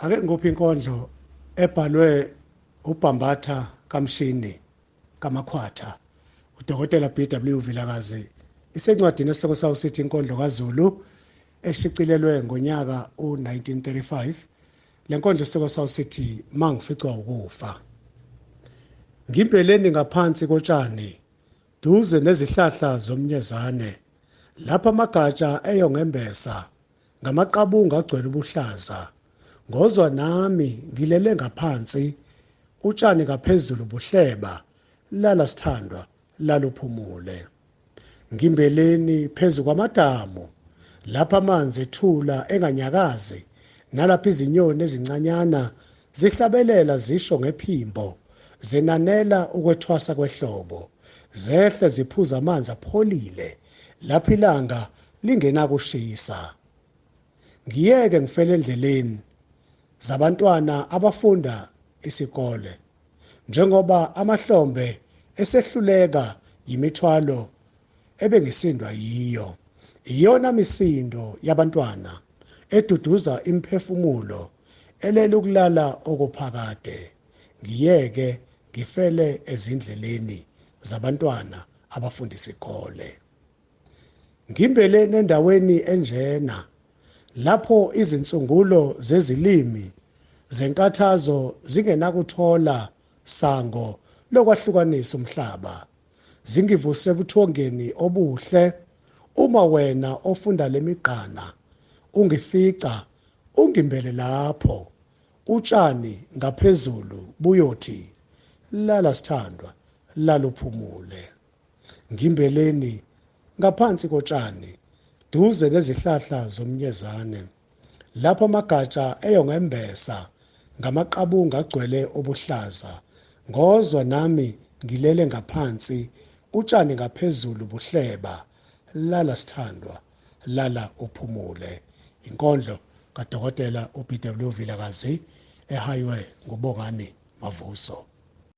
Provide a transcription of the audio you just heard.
Ake ngikuphe inkondlo ebhalwe uBhambatha kaMshini kaMakhwatha uDokotela BW Vilakazi isencwadini esihloko sawo sithi inkondlo kaZulu eshicilelwe ngonyaka u-1935 le nkondlo isihloko sawo sithi mangificwa ukufa ngimpeleni ngaphansi kotshani duze nezihlahla zomnyezane lapha amagatsha eyongembesa ngamaqabunga agcwele ubuhlaza ngozwa nami ngilele ngaphansi utshani ngaphezulu buhleba lala sithandwa laluphumule ngimbeleni phezu kwamadamu lapha amanzi ethula enganyakazi nalapha izinyoni ezincanyana zihlabelela zisho ngephimbo zenanela ukwethwasa kwehlobo zehle ziphuza amanzi apholile lapho ilanga lingenakushisa. Ngiyeke ngifele endleleni zabantwana abafunda isikole njengoba amahlombe esehluleka yimithwalo ebengisindwa yiyo. Iyona misindo yabantwana eduduza imiphefumulo elele ukulala okuphakade. Ngiyeke ngifele ezindleleni zabantwana abafunda isikole. Ngimbele nendaweni enjena lapho izinsungulo zezilimi zenkathazo zingenakuthola sango lokwahlukanisa umhlaba. Zingivuse ebuthongeni obuhle uma wena ofunda lemigqana ungifica ungimbele lapho utshani ngaphezulu buyothi lala sithandwa laluphumule. Ngimbeleni, ngaphansi kotshani, duze nezihlahla zomnyezane, lapho amagatsha eyongembesa ngamaqabunga agcwele obuhlaza, ngozwa nami ngilele ngaphansi, utshani ngaphezulu buhleba. Lala sithandwa, lala uphumule. Inkondlo kaDokotela uBW Vilakazi ehaywe nguBongani Mavuso.